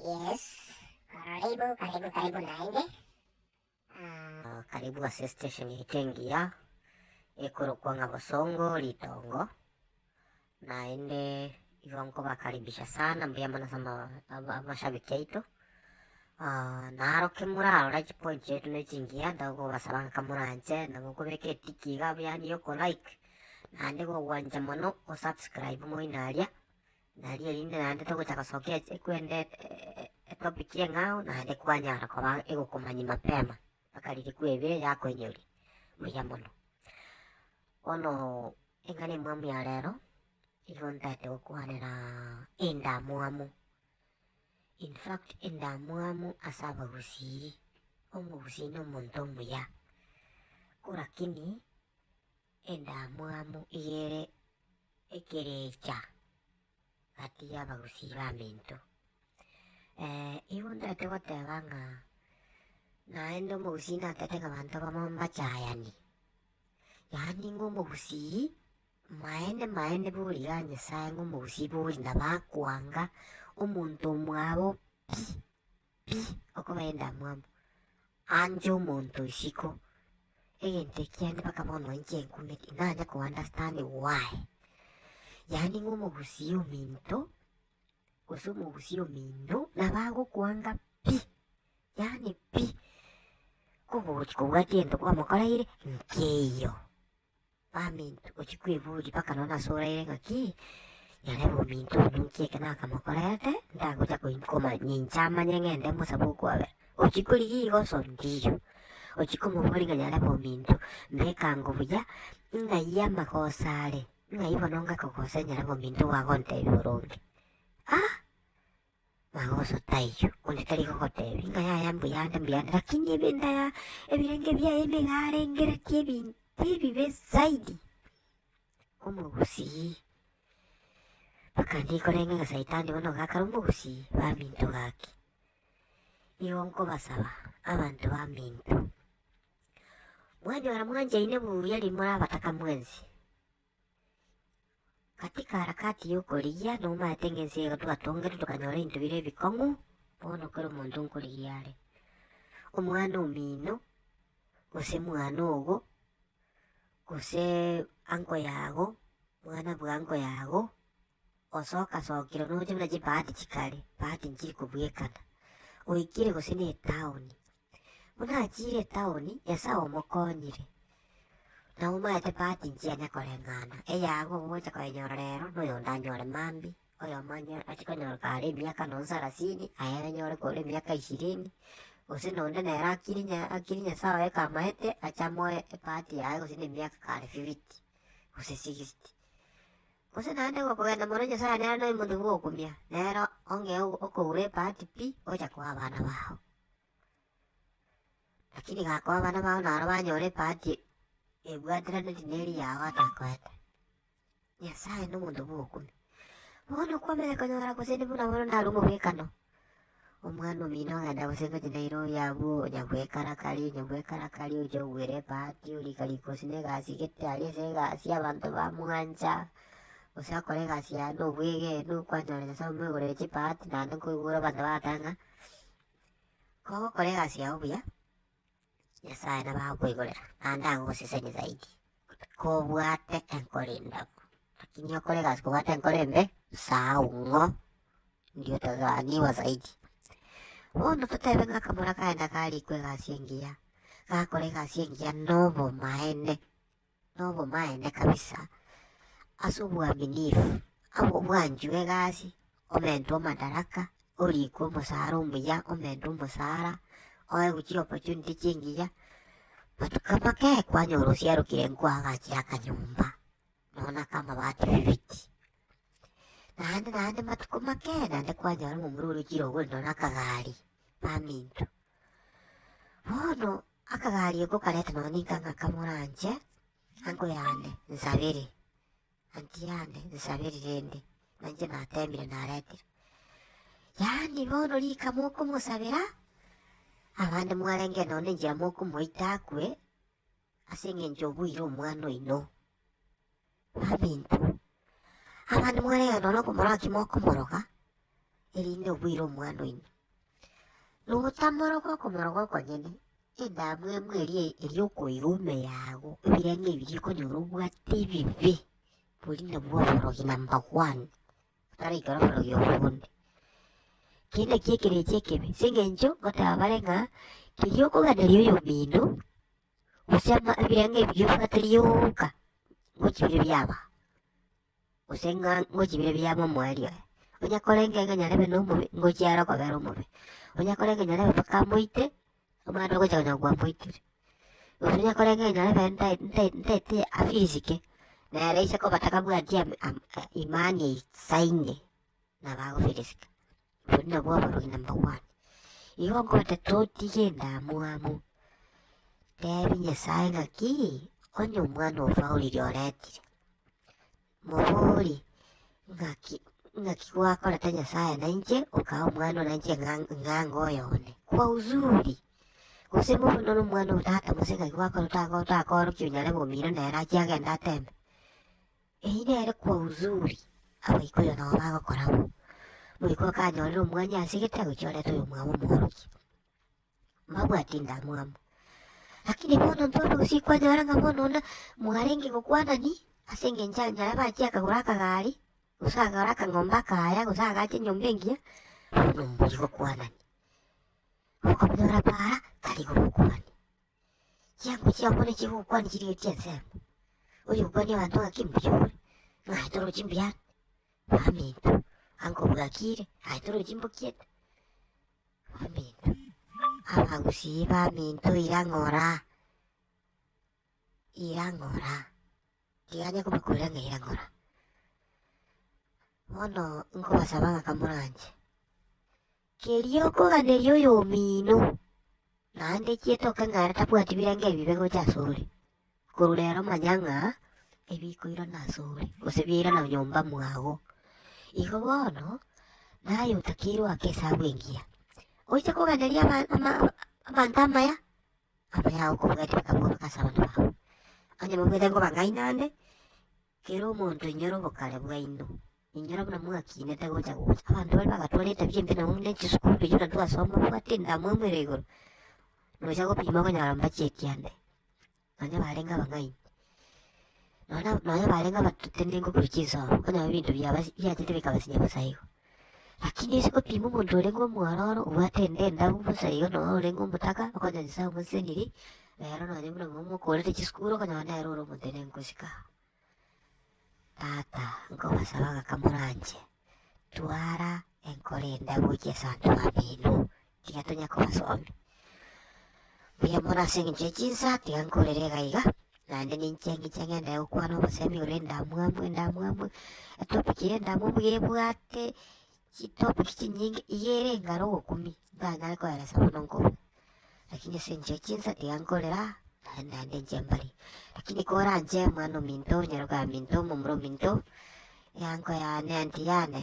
Yes, karaibu karibu karibu naende. Ah, karibu ase station yaito engiya ekorokwa ng'a Bosongo Ritongo, naende igo nkobakaribisha sana mbuya mono ase ama- ama- amashabiki aito. Ah, naro kemorarora chipoint chiaito ne chingiya tokobasaba ng'a ka moranche na mokobeka etiki iga yaani yoko like, naende gogwancha mono o subscribe moino aria, Nari erinde naende togocha gosokia ekwenda etopic y'eng'ao naende kwanyara koba egokomanya mapema mpaka riria kwebire yakoinyori. Buya mono. Bono eng'ana emwamu ya rero, nigo ntagete gokwanera endamwamu. In fact endamwamu ase abagusii, omogusii na omonto omuya. Ko lakini endamwamu iga ere. ekerecha gati y'abagusii b'aminto. Igo ntaete goteba ng'a naende omogusii natete ng'a abanto abamo mbachayani, yaani ng'a omogusii maene maene bori igaa Nyasae ng'a omogusii bori nabo akoanga omonto omwabo pi. pi okoba endamwamu anje omonto isiko, egento ekiagera mpaka bono inche nkumete nanye ko understand why. Yaani ng'a omogusii ominto gose omogusii ominto nabo agokwanga pi, yaani pi, kogochi kobwati egento kwamokoreire nkeiyo. Baminto, gochia kweburia mpaka nonya nase oraire ng'aki, nyarebe ominto oyo ninki eke nakamokorerete, ntagocha koim- koma- ninche amanye ng'ende mosabe okwabera. Ochia korigia igo so ndiyo, ochia komoboria ng'a nyarebe ominto, mbekango buya, ng'ai amagoso are, ng'ai bono ngakogosere nyarebe ominto ogo agontebia boronge. Ah! Na gosa taiyo, onye tari gogoteebia, Inga yaya mbuya ande mbuya ande, lakini ebinda ya ebirenge biaye nigo arengeretie ebinto ebibe zaidi. Omogusii. Mpaka ndiri korenge ng'a saitani bono iga akare omogusii baminto gaki. Igo nkobasaba abanto baminto, mwanyora mwanchaine buya riria morabataka mwensi. Katika harakati y'okorigia nomaete ng'ense eye twatongete tokanyora ebinto bire ebikong'u, bono kera omonto nkorigia are. Omwana omino, gose mwana ogo, gose uncle yago, mwana bwa uncle yago. Osoka sokire noche buna chibahati chikare, bahati nchiri kobwekana, oikire gose ne etown. Buna achiire etown, Nyasae omokonyire, na omaete bahati nchia nya koreng'ana, eyago ogocha koenyora rero, na oyonde anyore mambia, oyomo anye ache konyora kare emiaka nonya sarasini, aye anyore kore emiaka ishirini, gose nonde nere akiri nya akiri Nyasae oye kamaete, ache amoe ebahati yaye gose ne emiaka kare fifty, gose sixty. Gose naende gokogenda mono Nyasaye nere noimote gogokumia, nere onge okoura ebahati pi ocha koa abana bao. Lakini gakoa abana bao naro banyora ebahati ebwatiraneti neri yao atakoete. Nyasaye nomonto bwogokumia. Bono kwabera konyora gose buna bono ndare omobekano. omwana omino ogenda gose goti naira oyio abwo onya gwekarakaria onya gwekarakaria oche ogwere ebahati orika riko gose ne egasi gete aria ase egasi abanto ba mwancha gose akore egasi yaye na obwegenu kwanyora nyasaye omwegorere chibahati naende nkoigure abanto bagoteeba ng'a kogokora egasi yago buya. Nyasae nabagokoigorera, naende agosesenie zaidi, kobwate enkoro endabu, rakini okore egasi kobwate enkoro embe, saau ng'o indio otagaaniwa zaidi. Bono totebe ng'a akamura kaenda karikwa egasi engiya, gakora egasi engiya na obomaene, nobomaene kabisa ase obwaminifu, abwo bwanchiwe egasi omentwe omadaraka, orikwe omosara omuya, omentwe omosara, oegwe chi opportunity chingiya, but kaba kei kwanyora osiarokire nkoagachire akanyomba nonya na akamabati fiti, naende naende matuko make naende kwanyora omomura orochire ogore nonya na akagari, baminto. Bono. Akagaria okwo kareta nonya ninka ng'aka moranche ango yane nsabere, anti yane nsabere rende nanche nateemire naretire. Yaani bono rika mokomosabera, abande mwarenge nonya na enchera mokomoita akwe ase eng'encho obuire omwana oino. Abinto, abande mwarega nonye okomoraki mokomoroga, erinde oboire omwana oino. Notamoroga okomoroga okonyene, endamwamu eria eri okoira ime yago, ebirengo ebiria okonyora obwate ebibe, bori nabwo oborogi number one, otaraikera oborogi obo bonde. Keri nakio ekerecha ekebe, ase eng'encho ngoteba bare ng'a keria okoganeria oyomino. Gose ama ebirengo ebiya obwateirie goka ngochie bire biaba, gose ng'a ngochie bire bia momoerio oye. Onya korenge ng'a nyarebe na omobe, ngochie aro okobera omobe. Onya korenge nyarebe mpaka amoite, omana ogocha konya kobua amoitire. Gose onya korenge ng'a nyarebe ntai- ntai- ntaete afirisike, nere ise koba tabwati am- am- imani esaine, nabo agofirisika. Oboria nabwo aborori number one. Igo ngoete totige endamwamu, tebi Nyasae ng'aki onye omwana obo oriri oretire, mobori ng'aki ng'aki gwakorete Nyasae nainche okaha omwana one nainche ng'anga oye one, kwa uzuri, gose bobe noro omwana o tata gose ng'aki gwakora otakoorokia onyare bomira nere achie agende atembe. Eyio nere kwa Uzuri, abaikuyo nao bagokora bo. Boigo akanyorera omwanya ase egetego chiorete oyomwabo omworokia. Mbabwati ndamwamu. Lakini bono ntware gose ikwanyora ng'a bono onde mwarenge gokwanani ase engencho ya enchara bachia akagora akagari, gose akagora akang'ombe akaya, gose agacha enyomba engiya, bono mbori gokwanani. Okonyora para tari gobokwani. Chinkoro chiabo nigo chigokwana chiria chi'ensemo, oyokwania abanto ng'aki mbuya ore, naye torochi mbuya ande, baminto, anga obwakire, aye torochi mbokiete, baminto, abagusii baminto ira ng'ora, ira ng'ora. Riaane kobakurera ng'eira ngora. Bono nkobasaba ng'aka moranche. Keria okoganeria oyomino, naende chietoke ng'a are tabwati birengo ebibe gocha asore, korwa rero manya ng'a ebikoirana asore, gose biairana nyomba mwago. Igo bono, naye otakeirwe ake esabu engiya. Oise koganeria aba- ama- abanto amaya. Amang'ana ao okobwati bakabuuka ase abanto bao. Onye mobwate ngoba ngai nande, kera omonto inyora obokare bwaino, inyora buna mwakinete gocha gocha. Abanto baria bagatwara etabia embe nonya buna echisukuru erio buna twasoma obwate endamwamu ere igoro, nocha gopima okonyora mbachieti ande, nonya barenge abang'aini. Nonya nonya barenge abatate ne ngokuru chinsomo, okonyora ebinto biaba biachete bikaba sinya bosa igo. Lakini ase gopima omonto orenge omwororo, obwate ende endabu bosa igo nonya orenge omotaka, okonya Nyasae omoseseniri, rero nonya buna momo okorete chisukuru okonyora nere ore omotenenku nkosika. Tata, nkobasaba ng'aka moranche, twara enkoro endabu gochia ase abanto bamino, tiga tonya kobasomia. Mbuya mono ase engencho ye chinsa, tiga nkorere iga iga, naende ninche ngiche ng'ende gokwana obosemi ore endamwamu endamwamu, etopic ye endamwamu iga ebwate chitopic chinyinge, iga ere engaro ogokumia, ntanyare koelesa bono nkoba. Lakini ase engencho ye chinsa, tiga nkorere aa, naende naende inche mbare. Lakini koranche omwana ominto, onyaroka ominto, omomura ominto, eango yane, anti yane.